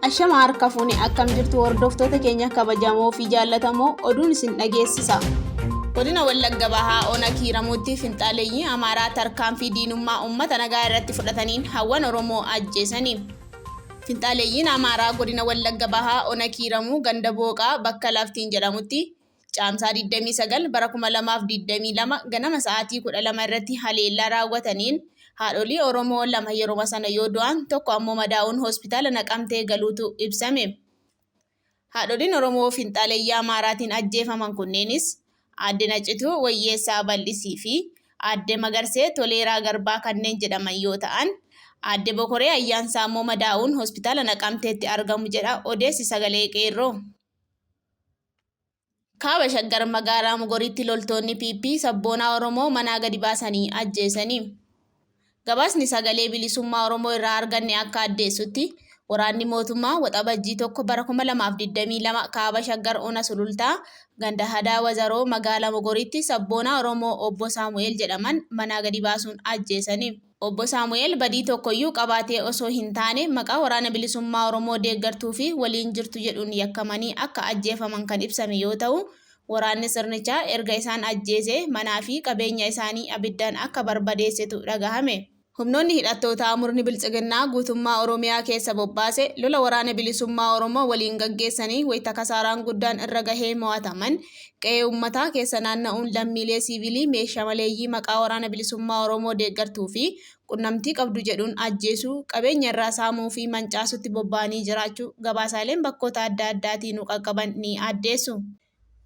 Ashama harka fuune akkam jirtu hordoftoota keenya kabajamoo fi jaallatamoo oduun isin dhageessisa. Godina Wallagga Bahaa Ona Kiiramuutti finxaaleeyyii Amaaraa tarkaanfii diinummaa uummata nagaa irratti fudhataniin hawwan Oromoo ajjeesanii. Finxaaleeyyiin Amaaraa godina Wallagga Bahaa Ona Kiiramuu ganda Booqaa bakka Laftiin jedhamutti Caamsaa 29 bara 2022 ganama sa'aatii 12 irratti haleellaa raawwataniin haadholii Oromoo lama yeruma sana yoo du'an tokko ammoo madaa'uun hospitaala Naqamtee galuutu ibsame. Haadholiin Oromoo finxaaleyyaa Amaaraatiin ajjeefaman kunneenis Aadde Nacituu Wayyeessaa Bal'isii fi Aadde Magarsee Toleeraa Garbaa kanneen jedhaman yoo ta'an, Aadde Bokoree Ayyaansaa ammoo madaa'uun hospitaala Naqamteetti argamu jedha odeessi Sagalee Qeerroo. Kaaba Shaggar magaalaa Mogoriitti loltoonni PP sabboonaa Oromoo manaa gadi baasanii ajjeesanii. Gabaasni sagalee bilisummaa Oromoo irraa arganne akka addeessutti waraanni mootummaa waxabajjii tokko bara 2022 kaaba Shaggar Ona Sulultaa ganda Hadaa Wazaroo magaalaa Mogoriitti sabboonaa Oromoo obbo Saamu'eel jedhaman manaa gadi baasuun ajjeesanii. Obbo Saamu'eel badii tokkoyyuu qabaatee osoo hin taane maqaa Waraana Bilisummaa Oromoo deeggartuu fi waliin jirtu jedhuun yakkamanii akka ajjeefaman kan ibsame yoo ta'u, waraanni sirnichaa erga isaan ajjeesee manaa fi qabeenya isaanii abiddaan akka barbadeessetu dhagahame. Humnoonni hidhattootaa murni Biltsiginnaa guutummaa Oromiyaa keessa bobbaase lola Waraana Bilisummaa Oromoo waliin gaggeessanii wayita kasaaraan guddaan irra gahee mo'ataman, qe'ee ummataa keessa naanna'uun lammiilee siivilii meeshaa maleeyyii maqaa Waraana Bilisummaa Oromoo deeggartuu fi qunnamtii qabdu jedhuun ajjeesuu, qabeenya irraa saamuu fi mancaasuutti bobba'anii jiraachuu gabaasaaleen bakkoota adda addaatii nu qaqqaban ni addeessu.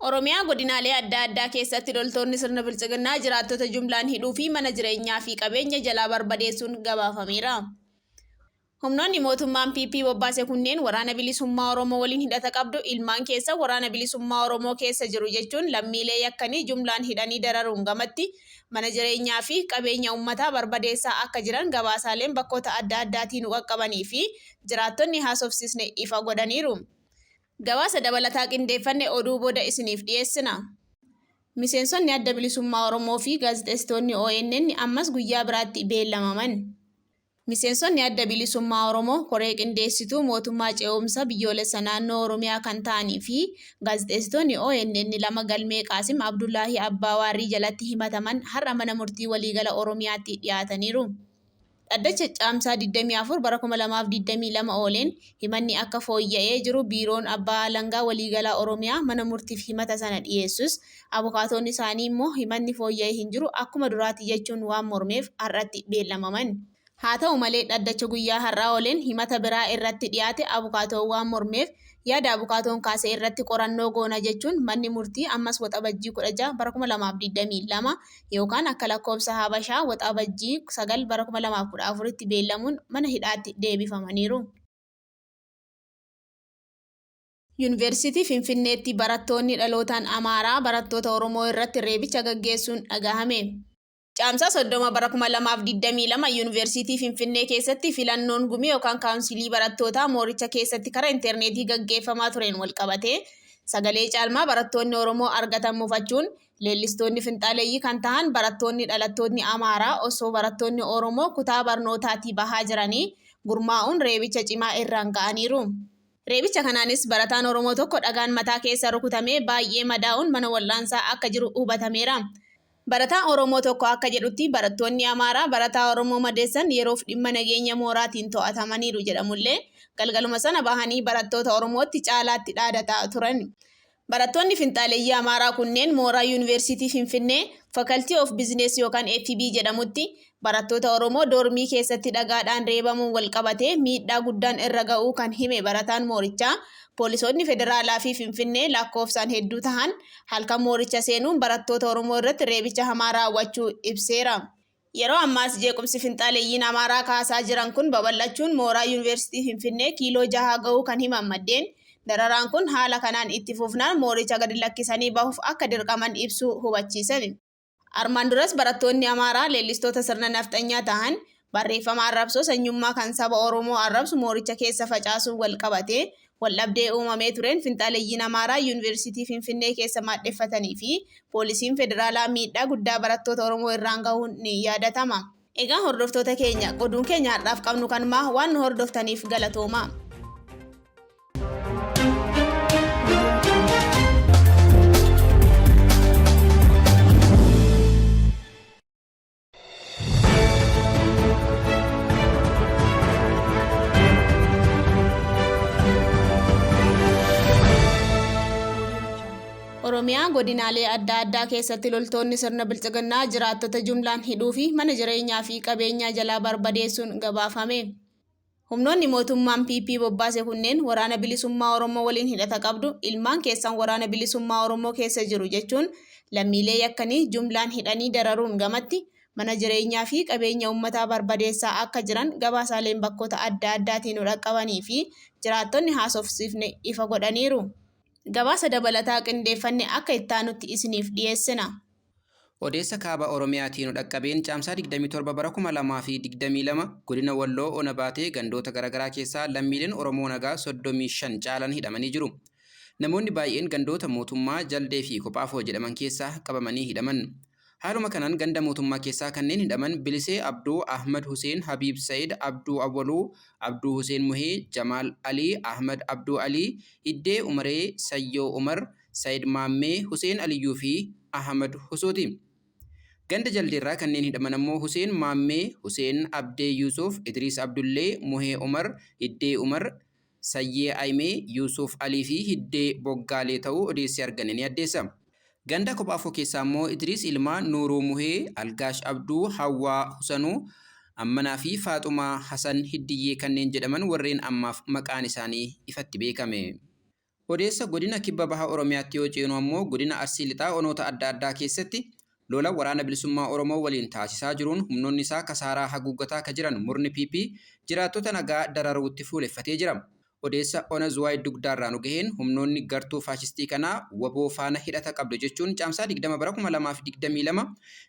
Oromiyaa godinaalee adda addaa keessatti loltoonni sirna Biltsiginnaa jiraattota jumlaan hidhuu fi mana jireenyaa fi qabeenya jalaa barbadeessuun gabaafameera. Humnoonni mootummaan PP bobbaase kunneen Waraana Bilisummaa Oromoo waliin hidhata qabdu, ilmaan keessan Waraana Bilisummaa Oromoo keessa jiru jechuun lammiilee yakkanii jumlaan hidhanii dararuun gamatti, mana jireenyaa fi qabeenya uummataa barbadeessaa akka jiran gabaasaaleen bakkoota adda addaatii nu qaqqabanii fi jiraattonni haasofsiisne ifa godhaniiru. Gabaasa dabalataa qindeeffanne oduu booda isiniif dhiyeessina. Miseensonni Adda Bilisummaa Oromoo fi gaazexeessitoonni ONN ammas guyyaa biraatti beellamaman. Miseensonni Adda Bilisummaa Oromoo Koree Qindeessituu Mootummaa Ce'umsa Biyyoolessa Naannoo Oromiyaa kan ta'anii fi gaazexeessitoonni ONN lama galmee Qaasim Abdullaahii Abbaa Waarrii jalatti himataman har'a Mana Murtii Waliigala Oromiyaatti dhiyaataniiru. Dhaddacha Caamsaa 24 bara 2022 ooleen Himanni akka fooyya'ee jiru Biiroon Abbaa Alangaa Waliigalaa Oromiyaa mana murtiif himata sana dhiyeessus, abukaatoon isaanii immoo himatni fooyya'e hin jiru, akkuma duraati jechuun waan mormeef har'atti beellamaman. Haa ta'u malee dhaddacha guyyaa har'aa ooleen himata biraa irratti dhiyaate abukaatoon waan mormeef yaada abukaatoon kaase irratti qorannoo goona jechuun manni murtii ammas Waxabajjii 16 bara 2022 yookaan akka lakkoofsa Habashaa Waxabajjii 9 bara 2014tti beellamuun mana hidhaatti deebifamaniiru. Yuunivarsiitii Finfinneetti barattoonni dhalootaan Amaaraa barattoota Oromoo irratti reebicha gaggeessuun dhagahame. Caamsaa 30 bara 2022 Yuunivarsiitii Finfinnee keessatti filannoon gumii yookaan kaawunsilii barattootaa mooricha keessatti kara interneetii gaggeeffamaa tureen walqabatee sagalee caalmaa barattoonni Oromoo argatan mufachuun Leellistoonni finxaaleeyyii kan tahan barattoonni dhalattootni Amaaraa osoo barattoonni Oromoo kutaa barnootaatii bahaa jiranii gurmaa'uun reebicha cimaa irraan ga'aniiru. Reebicha kanaanis barataan Oromoo tokko dhagaan mataa keessa rukutamee baay'ee madaa'uun mana wal'aansaa akka jiru hubatameera. Barataan Oromoo tokko akka jedhutti barattoonni Amaaraa barataa Oromoo madeessan yeroof dhimma nageenya mooraatiin to'atamaniiru jedhamullee galgaluma sana bahanii barattoota Oromootti caalaatti dhaadataa turan. Barattoonni finxaaleyyii Amaaraa kunneen mooraa Yuuniversiitii Finfinnee Faculty of Business yookaan FB jedhamutti barattoota Oromoo doormii keessatti dhagaadhaan reebamuun walqabatee miidhaa guddaan irra ga'uu kan hime barataan moorichaa, poolisootni federaalaa fi Finfinnee lakkoofsaan hedduu tahan halkan mooricha seenuun barattoota Oromoo irratti reebicha hamaa raawwachuu ibseera. Yeroo ammaas jeequmsi finxaaleyyiin Amaaraa kaasaa jiran kun babal'achuun mooraa Yuuniversitii Finfinnee kiiloo jahaa gahuu kan himan maddeen, dararaan kun haala kanaan itti fufnaan mooricha gadi lakkisanii bahuuf akka dirqaman ibsuu hubachiisan. Armaan duras barattoonni Amaaraa leellistoota sirna nafxanyaa tahan barreeffama arrabsoo sanyummaa kan saba Oromoo arrabsu mooricha keessa facaasuun walqabatee Waldhabdee uumamee tureen finxaaleyyiin Amaaraa Yuuniversitii Finfinnee keessa maadheffatanii fi poolisiin federaalaa miidhaa guddaa barattoota Oromoo irraan gahuun ni yaadatama. Egaa hordoftoota keenya, oduun keenya har'aaf qabnu kanuma. Waan nu hordoftaniif galatoomaa. Oromiyaa godinaalee adda addaa keessatti loltoonni sirna bilxiginnaa jiraattota jumlaan hidhuu fi mana jireenyaa fi qabeenyaa jalaa barbadeessuun gabaafame. Humnoonni mootummaan PP bobbaase kunneen Waraana Bilisummaa Oromoo waliin hidhata qabdu, ilmaan keessan Waraana Bilisummaa Oromoo keessa jiru jechuun lammiilee yakkanii jumlaan hidhanii dararuun gamatti mana jireenyaa fi qabeenya uummataa barbadeessaa akka jiran gabaasaaleen bakkoota adda addaatii nu dhaqqabanii fi jiraattonni haasofsiifne ifa godhaniiru. Gabaasa dabalataa qindeeffanne akka ittaanutti isiniif dhiyeessina. Odeessa Kaaba Oromiyaatii nu dhaqqabeen Caamsaa 27 bara 2022 godina Walloo Ona Baatee gandoota garaagaraa keessaa lammiileen Oromoo nagaa 35 caalan hidhamanii jiru. Namoonni baay'een gandoota Mootummaa, Jaldee fi Kophaafoo jedhaman keessaa qabamanii hidhaman. Haaluma kanaan ganda Mootummaa keessaa kanneen hidhaman Bilisee Abduu, Ahmad Huseen, Habiib Sayid, Abduu Awwaluu, Abduu Huseen Muhee, Jamaal Alii, Ahmad Abduu Alii, Iddee Umaree, Sayyoo Umar, Sayid Maammee, Huseen Aliyyuu fi Ahmad Husooti. Ganda Jaldeerraa kanneen hidhaman ammoo Huseen Maammee, Huseen Abdee Yuusuf, Idriis Abdullee, Muhee Umar, Hiddee Umar, Sayyee Ayimee, Yuusuf Alii fi Hiddee Boggaalee ta'uu odeessi arganne ni addeessa. Ganda Kophaafoo keessaa ammoo Idriis Ilmaa, Nuuruu Muhee, Algaash Abduu, Hawwaa Husanuu, Ammanaa fi Faaxumaa Hasan Hiddiyyee kanneen jedhaman warreen ammaaf maqaan isaanii ifatti beekame. Odeessa Godina Kibba Baha Oromiyaatti yoo ceenu ammoo Godina Arsii Lixaa Onoota adda addaa keessatti Lola Waraana Bilisummaa Oromoo waliin taasisaa jiruun humnoonni isaa kasaaraa haguuggataa ka jiran murni PP jiraattota nagaa dararuutti fuuleffatee jira. Odeessa Ona Zuwaay Dugdaarraa nu gaheen humnoonni gartuu faashistii kanaa wbo faana hidhata qabdu jechuun Caamsaa 20 bara 2022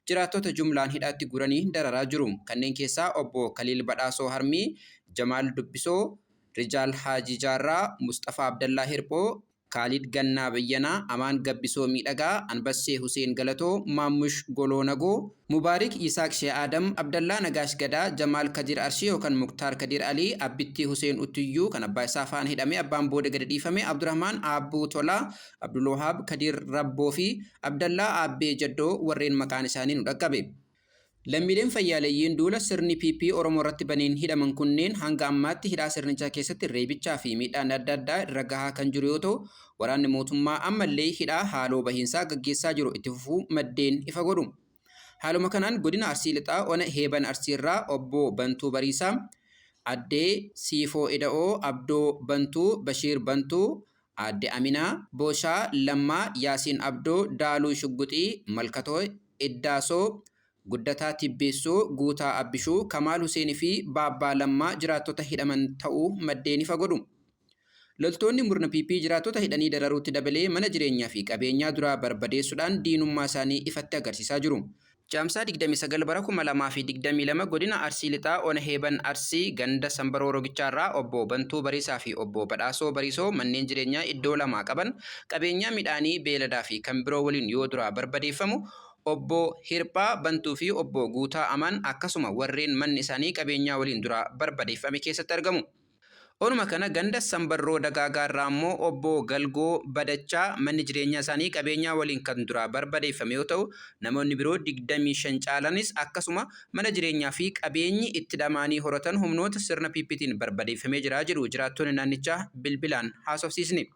jiraattota jumlaan hidhaatti guuranii dararaa jiru. Kanneen keessaa Obbo Kaliil Badhaasoo Harmii, Jamaal Dubbisoo, Rijaal Haajii Jaarraa, Musxafaa Abdallaa Hirphoo, Kaalid Gannaa Bayyanaa, Amaan Gabbisoo Miidhagaa, Anbassee Huseen Galatoo, Maammush Goloo Nagoo, Mubaarik Yisaaq Shee Aadam, Abdallaa Nagaash Gadaa, Jamaal Kadiir Arshii yookan Muktaar Kadiir Alii, Abbittii Huseen Uttuyyuu kan abbaa isaa faana hidhamee abbaan booda gadi dhiifame, Abdurahmaan Aabbuu Tolaa, Abdulwahaab Kadiir Rabboo fi Abdallaa Aabbee Jaddoo warreen maqaan isaanii nu dhaqqabe. Lammiileen fayyaaleyyiin duula sirni PP Oromoo irratti baneen hidhaman kunneen hanga ammaatti hidhaa sirnichaa keessatti reebichaa fi miidhaan adda addaa irra gahaa kan jiru yoo ta'u, waraanni mootummaa ammallee hidhaa haaloo bahiinsaa gaggeessaa jiru itti fufuu maddeen ifa godhu. Haaluma kanaan godina Arsii Lixaa ona Heeban Arsii irraa Obbo Bantuu Bariisaa, Addee Siifoo Ida'oo, Abdoo Bantuu, Bashiir Bantuu, Aadde Aminaa, Boshaa, Lammaa, Yaasiin Abdoo, Daaluu Shugguxii, Malkatoo, Iddaasoo, Guddataa Tibbeessoo, Guutaa Abbishuu, Kamaal Huseen fi Baabbaa Lammaa jiraattota hidhaman ta'uu maddeen ifa godhu. Loltoonni murna PP jiraattota hidhanii dararuutti dabalee mana jireenyaa fi qabeenyaa duraa barbadeessuudhaan diinummaa isaanii ifatti agarsiisaa jiru. Caamsaa 29 bara 2022 godina Arsii Lixaa ona Heeban Arsii ganda Sambaroo Rogichaarraa obbo Bantuu Bariisaa fi obbo Badhaasoo Bariisoo manneen jireenyaa iddoo lamaa qaban qabeenyaa midhaanii, beeladaa fi kan biroo waliin yoo duraa barbadeeffamu obbo Hirphaa Bantuu fi obbo Guutaa Amaan akkasuma warreen manni isaanii qabeenyaa waliin duraa barbadeeffame keessatti argamu. Onuma kana ganda Sambarroo Dagaagaa irraa ammoo Obbo Galgoo Badachaa manni jireenyaa isaanii qabeenyaa waliin kan duraa barbadeeffame yoo ta'u, namoonni biroo 25 caalanis akkasuma mana jireenyaa fi qabeenyi itti dhamaanii horatan humnoota sirna PPtiin barbadeeffamee jira jedhu jiraattonni naannichaa bilbilaan haasofsiisne.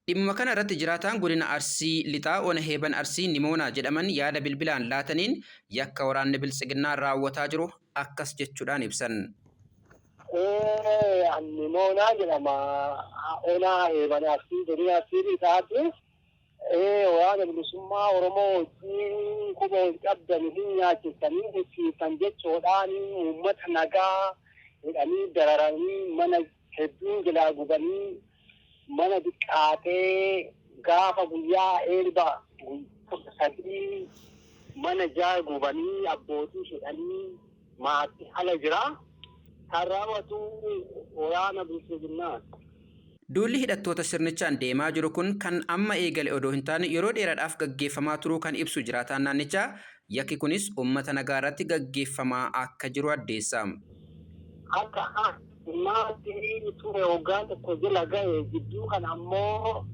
Dhimmuma kana irratti jiraataan godina Arsii Lixaa ona Heeban Arsii Nimoonaa jedhaman yaada bilbilaan laataniin yakka waraanni Biltsiginnaa raawwataa jiru akkas jechuudhaan ibsan. An Nimoonaa jedhama. Ona Heeban Arsii godina Arsii Lixaati. Waraana Bilisummaa Oromoo wajjin quba wal qabdan isin nyaachistanii dhufsiiftan jechuudhaan uummata nagaa hidhanii dararanii mana hedduun jilaa gubanii mana diqqaatee gaafa guyyaa eebba kudha sadii mana jaa gubanii abbootii hidhanii maati ala jira kan raawwatu waraana bilxiginnaati. Duulli hidhattoota sirnichaan deemaa jiru kun kan amma eegale odoo hin taane yeroo dheeraadhaaf gaggeeffamaa turuu kan ibsu jiraataan naannichaa, yakki kunis uummata nagaarratti gaggeeffamaa akka jiru addeessa. Akka Maatii ture waggaa tokko jala gahe jidduu kana ammoo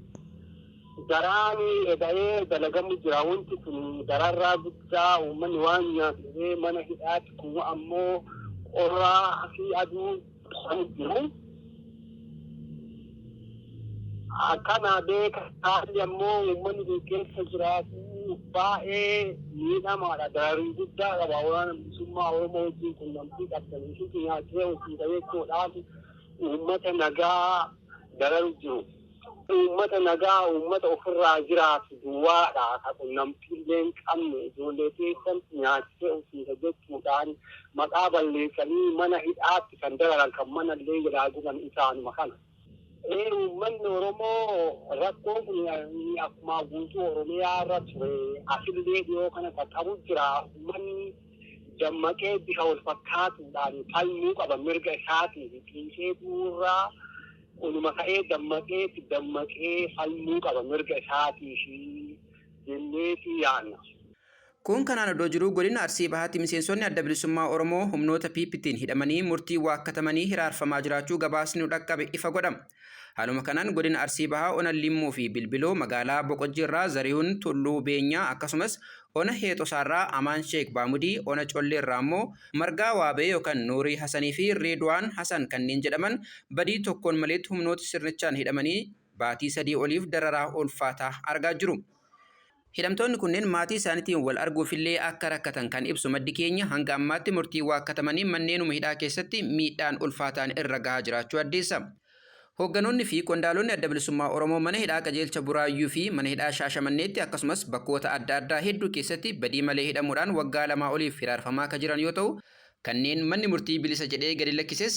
garaani eda'ee dalagamu jira wanti kun dararraa guddaa uummanni waan nyaatee mana hidhaatti kun ammoo qorraa fi aduu kan jiru. Akkanaa beeka haalli ammoo uummanni kun keessa jiraatu baay'ee miidhamaadha. Dararii guddaa qaba. Waraana bilisummaa Oromoo wajjin qunnamtii qabdan isitti nyaachee hojii jechuudhaan uummata nagaa dararu jiru. Uummata nagaa uummata ofirraa jiraatu duwwaadha. Ka qunnamtii illee hin qabne ijoollee keessan nyaachee hojii jechuudhaan maqaa balleessanii mana hidhaatti kan dararan kan mana illee jalaa guban isaanuma kana. Ee uummanni Oromoo rakkoon kun akkuma guutuu Oromiyaa irra ture asillee dhiyoo kana qaqqabu jira. Uummanni dammaqee bifa wal fakkaatuudhaan falmuu qaba mirga isaatii fi xiiqee duurraa kunuma ka'ee dammaqee itti dammaqee falmuu qaba mirga isaatii fi jenneetii yaanna. Kun kanaan odoo jiruu godina Arsii Bahaatti miseensonni Adda Bilisummaa Oromoo humnoota PPtiin hidhamanii murtii waakkatamanii hiraarfamaa jiraachuu gabaasni nu dhaqqabe ifa godha. Haaluma kanaan godina Arsii Bahaa ona Limmuu fi Bilbiloo magaalaa Boqojjii irraa Zarihun Tulluu Beenyaa akkasumas ona Heexosaa irraa Amaan Sheek Baamudii, ona Collee irraa ammoo Margaa Waabee yookan Nuurii Hasanii fi Reedwaan Hasan kanneen jedhaman badii tokkoon maleetti humnoota sirnichaan hidhamanii baatii sadii oliif dararaa ulfaataa argaa jiru. Hidhamtoonni kunneen maatii isaaniitiin wal arguufillee akka rakkatan kan ibsu maddi keenya, hanga ammaatti murtiin waakkatamanii manneenuma hidhaa keessatti miidhaan ulfaataan irra gahaa jiraachuu addeessa. Hoogganoonni fi qondaalonni Adda Bilisummaa Oromoo mana hidhaa Qajeelcha Buraayyuu fi mana hidhaa Shaashamanneetti akkasumas bakkoota adda addaa hedduu keessatti badii malee hidhamuudhaan waggaa lamaa oliif hiraarfamaa ka jiran yoo ta'u, kanneen manni murtii bilisa jedhee gadi lakkises